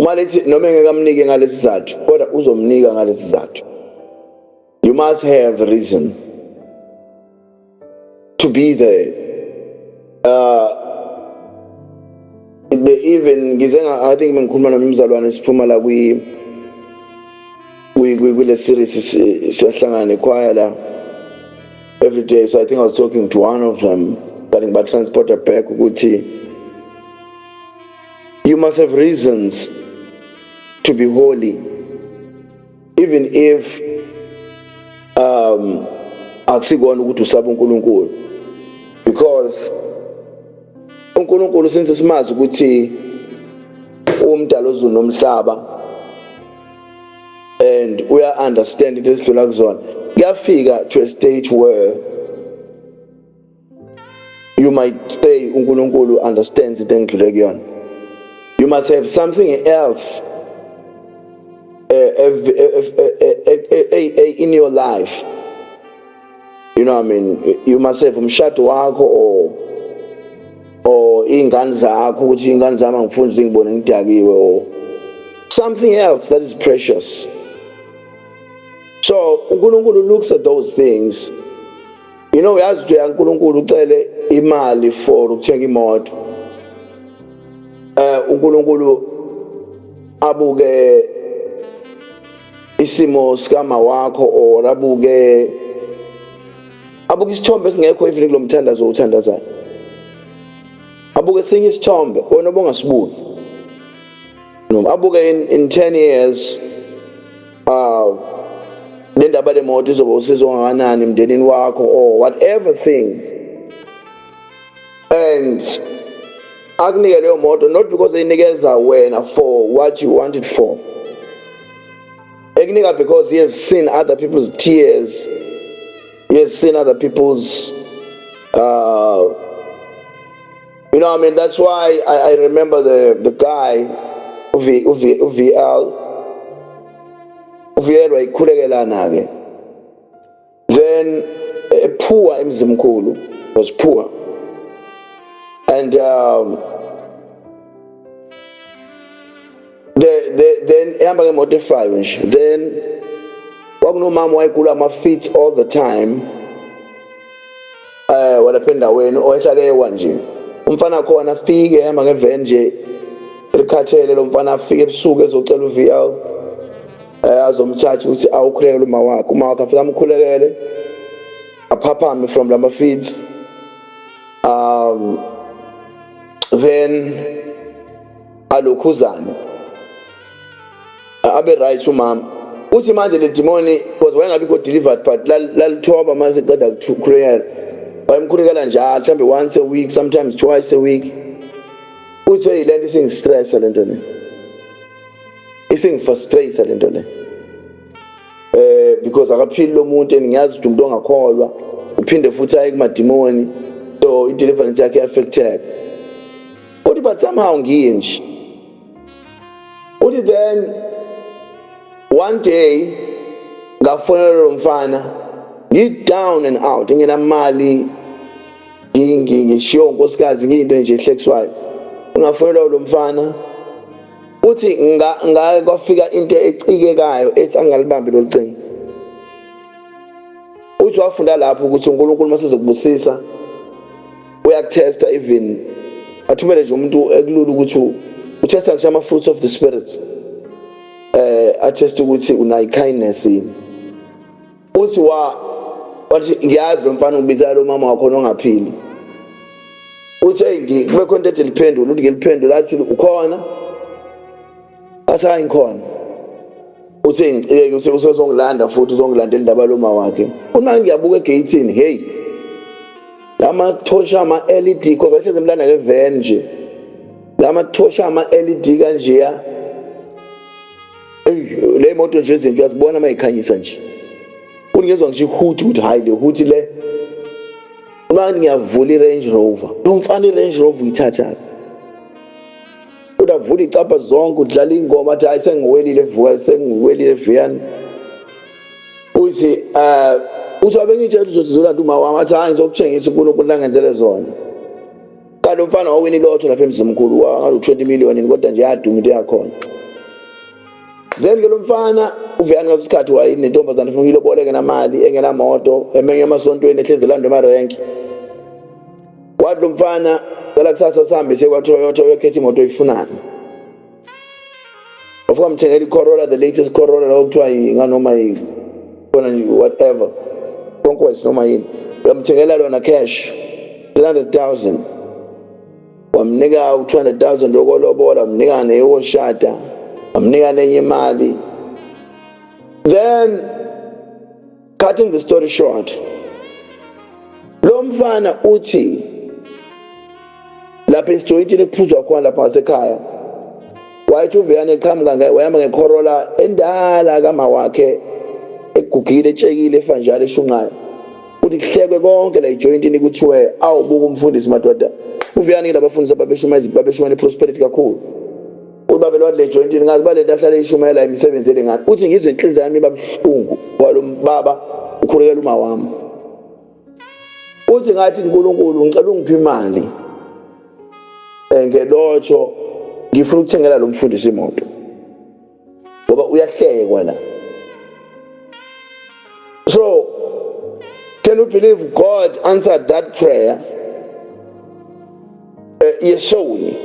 uma lethi noma engekamnike ngalesi sizathu kodwa uzomnika ngalesi sizathu you must have reason to be there uh the even ngize i think bengikhuluma nomzalwane siphuma la kwi kwi kule series siyahlangana ekhwaya la every day so i think i was talking to one of them kanti ngibatransporta back ukuthi You must have reasons to be holy, even if um, akusikona ukuthi usaba uNkulunkulu because uNkulunkulu since simazi ukuthi umdala ozulu nomhlaba and we are understand into esidlula kuzona kuyafika to a stage where you might say uNkulunkulu understands into engidlule kuyona you must have something else uh, in your life you know what I mean you must have umshado wakho or or ingane zakho ukuthi ingane zami angifuni zingibone ngidakiwe or something else that is precious so uNkulunkulu looks at those things you know uyazi ukuthi uyankulunkulu ucele imali for ukuthenga imoto eh uNkulunkulu abuke isimo sikama wakho or abuke abuke isithombe esingekho even kulomthandazo uthandazayo abuke sinye isithombe wena obongasibuki noma abuke in, in 10 years uh, le ndaba le moto izoba usizo kangakanani emndenini wakho or whatever thing and akunike leyo moto not because eyinikeza wena for what you wanted for ekunika because he has seen other people's tears he has seen other people's uh, You know, I mean, that's why I, I remember the, the guy, Uvi, Uvi, Uviel, Uviel wayikhulekelana-ke. Then a poor Mzimkulu was poor. And um, the the then ehamba ngemoto efayo nje then kwakunomama wayegula ama feet all the time eh walapha endaweni oyehlalewa nje umfana khona afike ehamba ngevan nje likhathele lo mfana afike ebusuku ezocela uVL eh azomthatha ukuthi awukhulekele uma wakhe uma wakhe afika amkhulekele aphaphame from lama feeds um then alokhuzane abe right umama uthi manje le demoni because wayengabikho delivered but lalithoba manje siqeda kukhulekela wayemkhulekela njalo mhlawumbe once a week sometimes twice a week uthe yile nto isingistressa le nto le isingifrustrate le nto le eh because akaphili lo muntu and ngiyazi ukuthi umuntu ongakholwa uphinde futhi aye kumadimoni so i-deliverance yakhe i-affecteka uthi but somehow ngiye nje uthi then one day ngafonela lo mfana ngi-down and out nginamali ngishiyo nkosikazi ngiyinto nje ehlekiswayo ngafonelwa ulo mfana uthi ngake kwafika into ecikekayo ethi angalibambi lolu cingo uthi wafunda lapho ukuthi unkulunkulu uma sizokubusisa uyakuthesta even athumele nje umuntu ekulula ukuthi uthesta ngisho ama-fruits of the spirits eh athesta ukuthi unayi kindness yini uthi wa wathi ngiyazi lo mfana ubiza lo mama wakho ongaphili uthi hey kube khona into ethi liphendule uthi ngiliphendule athi ukhona athi hayi ngikhona uthe ngicike uthe usezongilanda futhi uzongilandela indaba loma wakhe uma ngiyabuka egeyithini hey lamathosha ama-led cause ahlezi emlanda ngeven nje lamathosha ama-led kanjeya le moto nje izinto uyazibona uma yikhanyisa nje kuningezwa ngisho ihuthi ukuthi hhayi le huthi le uma ngiyavula i-range rover lo mfana i-range rover uyithathaphi udavula icabha zonke udlala ingoma athi hayi sengiwelile vuka sengiwelile viyani uthi um uthi wabengitshela uzothi zola nto umawami athi hayi ngizokutshengisa unkulunkulu nangenzele zona kanti umfana wawini ilotho lapha emzimkhulu wangalu-twenty millionin kodwa nje yaduma into yakhona then ke lo mfana uveyani ngaleso sikhathi wayenentombazane funa uyiloboleke namali engenamoto emenye emasontweni ehlezi elandwa emarenki Wathi umfana cela kusasa sihambe siye kwaToyota uyokhetha imoto oyifunayo. Wafika mthengela iCorolla the latest Corolla lawo kuthiwa nganoma yini. Kona nje whatever. Conquest noma yini. Uyamthengela lona cash 300,000. Wamnika u-200,000 yokolobola, wamnika neyokoshada, wamnika nenye imali. Then cutting the story short lo mfana uthi lapha esijoyintini kuphuzwa khona lapha ngasekhaya wayethi uveyane eqhamuka wayehamba ngekhorola endala kama wakhe egugile etshekile efanjalo eshunqayo uthi kuhlekwe konke la ijoyintini kuthiwe awubuka umfundisi madoda uveyane ke labafundisi babeshumayeza babeshumayela iprosperity kakhulu ubaba lwat le joint ngazi ba lento ahlale ishumayela imisebenzi elingani uthi ngizwe inhliziyo yami babuhlungu walo baba ukhulekela uma wami uthi ngathi uNkulunkulu ngicela ungiphe imali eh, ngelotho ngifuna ukuthengela lo mfundisi imoto ngoba uyahlekwa la so can you believe god answered that prayer eh, yesoni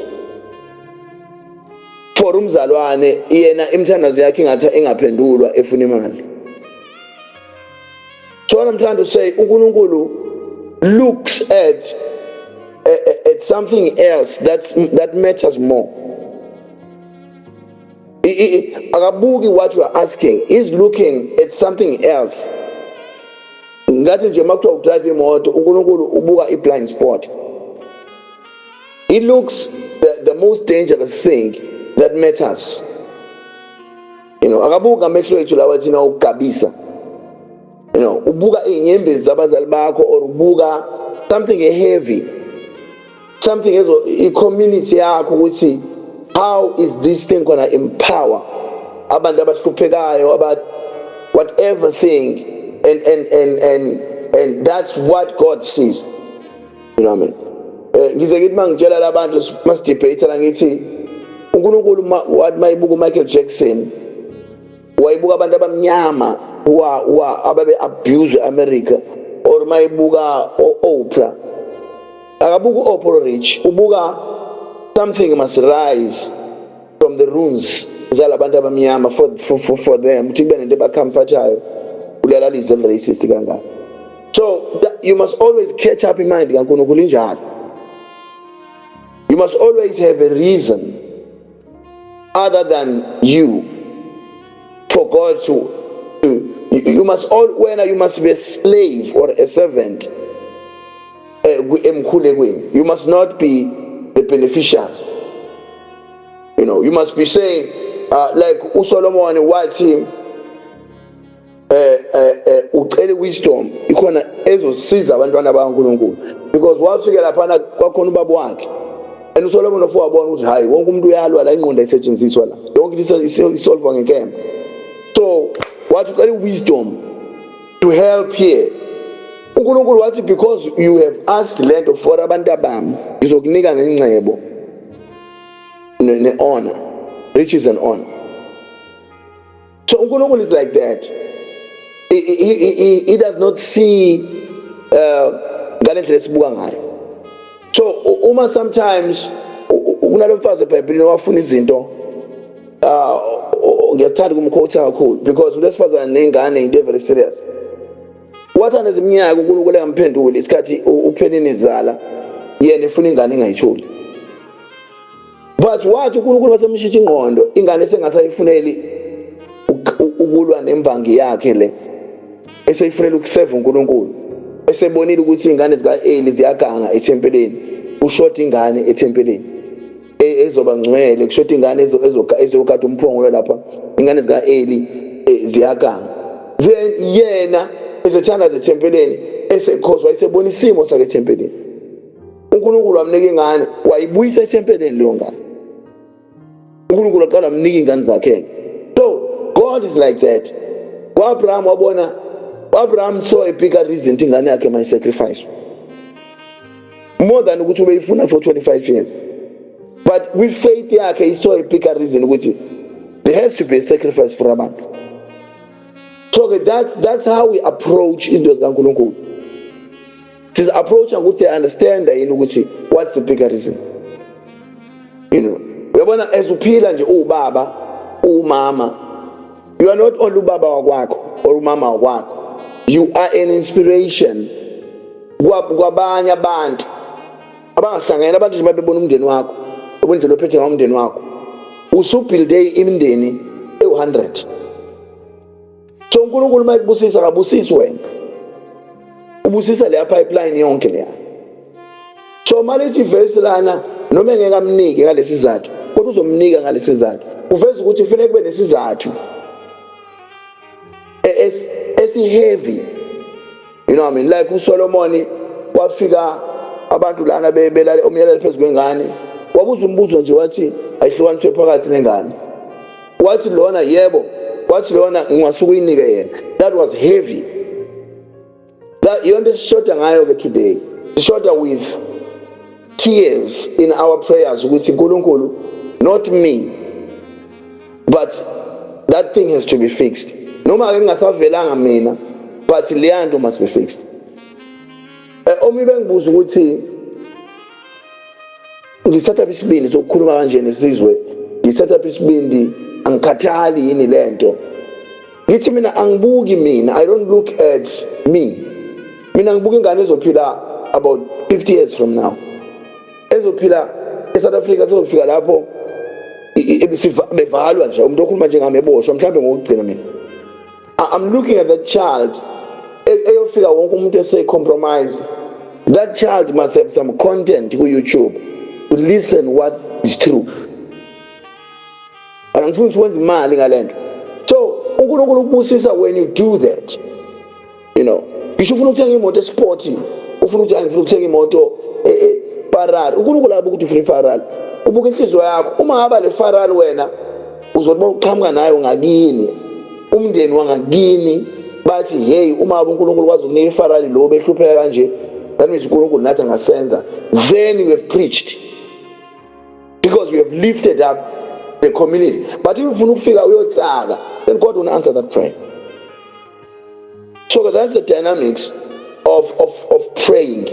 for umzalwane yena imthandazo yakhe ingathi ingaphendulwa efuna imali so what i'm trying to say unkulunkulu looks at eh, eh, at something else that's, that matters more akabuki what you are asking he's looking at something else ngathi nje uma kuthiwa udrive imoto unkulunkulu ubuka i-blind spot it looks the, the most dangerous thing that matters you know akabuki ngamehlo ethu lawa thina okugabisa you know ubuka iy'nyembezi zabazali bakho or ubuka something heavy something ezo i-community yakho ukuthi how is this thing gonna empower abantu abahluphekayo about whatever thing and and and and and that's what god sees you know what i mean eh, ngize ngithi mangitshela labantu masidebate la ngithi uNkulunkulu wathi mayibuka uMichael Jackson wayibuka abantu abamnyama wa wa ababe abuse eAmerica or mayibuka oOprah akabuka uOprah rich ubuka something must rise from the ruins zalabantu abamnyama for, for, for, for them ukuthi kube nento ebacomfortayo ulalalize racist kangaka so that, you must always catch up in mind kaNkulunkulu injalo you must always have a reason other than you for God to, to you, you must all wena you must be a slave or a servant eh, emkhulekweni you must not be the beneficiary you know you must be saying uh, like uSolomon wathi eh eh, eh ucele wisdom ikhona ezosiza abantwana bakaNkuluNkulu because wafika lapha kwakhona ubaba wakhe and uSolomon of wabona ukuthi hayi wonke umuntu uyalwa la ingqondo isetshenziswa la yonke into isolve ngenkemba so wathi ucela wisdom to help here uNkulunkulu wathi because you have asked lento for abantu abami ngizokunika nengcebo ne honor riches and honor So uNkulunkulu is like that. He, he, he, he does not see uh, ngale ndlela esibuka ngayo. So uma sometimes kunalo mfazi eBhayibhelini owafuna izinto uh ngiyathanda kumkhotha kakhulu because ulesifazane nengane into very serious. Wathanda iziminyaka uNkulunkulu engamphenduli isikhathi uphenini izala yena efuna ingane ingayitholi. but wathi uNkulunkulu wasemshitsha ingqondo ingane sengasayifuneli ukulwa nembangi yakhe le eseyifunela ukuseva uNkulunkulu esebonile ukuthi ingane zika Eli ziyaganga ethempeleni ushota ingane ethempeleni e, ezoba ngcwele kushota ingane ezokata umphongolo lapha ingane zika Eli e, ziyaganga then yena ezethanda zethempeleni esekhoswa isebona isimo sakhe ethempeleni uNkulunkulu wamnika ingane wayibuyisa ethempeleni leyo ngane uNkulunkulu aqala amnika ingane zakhe so God is like that kwaAbraham wabona uAbraham saw a bigger reason ukuthi ingane yakhe my sacrifice more than ukuthi ubeyifuna for 25 years but with faith yakhe he saw a bigger reason ukuthi there has to be a sacrifice for abantu so that that's how we approach into zikaNkulunkulu siz approach ukuthi i understand yini ukuthi what's the bigger reason you know uyabona as uphila nje uwubaba uwumama you are not only ubaba wakwakho or umama wakwakho you are an inspiration kwabanye abantu abangahlanganyela abantu nje babebona umndeni wakho ubundlela ophethe ngawo umndeni wakho usubuilde imindeni ewu-100 so unkulunkulu uma ekubusisa akabusisi wena ubusisa leya pipeline yonke leya so uma lithi vesi lana noma engeke amnike ngalesi sizathu kodwa uzomnika ngalesi sizathu uveza ukuthi kufanele kube nesizathu e-, esiheavy you know what I mean like uSolomon kwafika abantu lana bebelale umyalelo phezulu kwengane wabuza umbuzo nje wathi ayihlukaniswe phakathi nengane wathi lona yebo wathi lona ngingasuke uyinike yena that was heavy that yonto esishoda ngayo ke today sishoda with tears in our prayers ukuthi uNkulunkulu not me but that thing has to be fixed noma ke ngingasavelanga mina but leya nto must be fixed eh, omi bengibuza ukuthi ngithatha isibindi sokukhuluma kanje nesizwe ngithatha isibindi angikhathali yini le nto ngithi mina angibuki mina i don't look at me mina ngibuka ingane ezophila about 50 years from now ezophila eSouth Africa sezofika lapho bevalwa nje umuntu okhuluma njengami eboshwa mhlawumbe ngokugcina mina i'm looking at that child e, eyofika wonke umuntu eseyicompromise that child must have some content ku-youtube to listen what is true angifuni ukuthi wenze imali ngale nto so unkulunkulu ukubusisa when you do that you know ngisho ufuna ukuthenga imoto esport ufuna ukuthi angifuna ukuthenga imoto e, e, Ferrari uNkulunkulu abuka ukuthi ufuna iFerrari ubuka inhliziyo yakho uma haba le Ferrari wena uzothi bawuqhamuka nayo ngakini umndeni wangakini bathi hey uma haba uNkulunkulu kwazi ukunika iFerrari lo behlupheka kanje that means uNkulunkulu nathi angasenza then we have preached because we have lifted up the community but if ufuna ukufika uyotsaka then God will answer that prayer so that's the dynamics of of of praying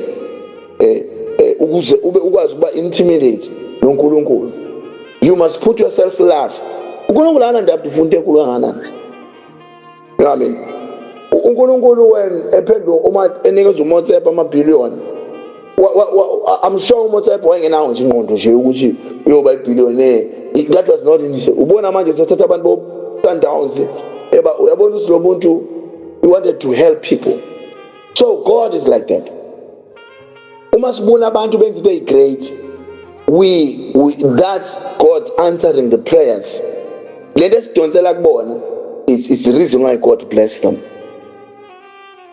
eh, eh ukuze ube ukwazi ukuba intimidate noNkulunkulu you must put yourself last uNkulunkulu ana ndaba ufunde enkulu kangakanani amen uNkulunkulu wena ephendula uma enikeza uMotsepa ama billion I'm sure uMotsepe wayengenawo nje ingqondo nje ukuthi uyoba ibillionaire that was not nje ubona manje sethatha abantu bo Sundowns eba uyabona ukuthi lo muntu he wanted to help people so God is like that uma sibona abantu benza into great we, we that's God answering the prayers lento esidonsela kubona it's, it's the reason why God bless them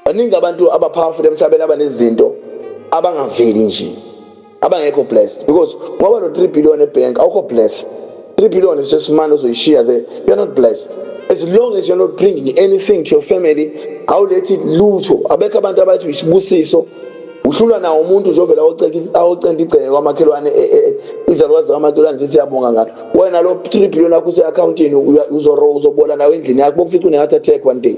baningi abantu aba powerful emhlabeni abanezinto abangaveli nje abangekho blessed because ngoba no 3 billion ebank awukho blessed 3 billion is just money ozoyishiya there you are not blessed as long as you're not bringing anything to your family awulethi lutho abekho abantu abathi uyisibusiso uhlulwa nawo umuntu nje ovela awocenta igceke kwamakhelwane e, e, e, izalukwazi zakamakhelwane zithi yabonga ngalo wena lo 3 billion akho use-akhawuntini uzobola nawo endlini yakho bokufica unengathi attack one day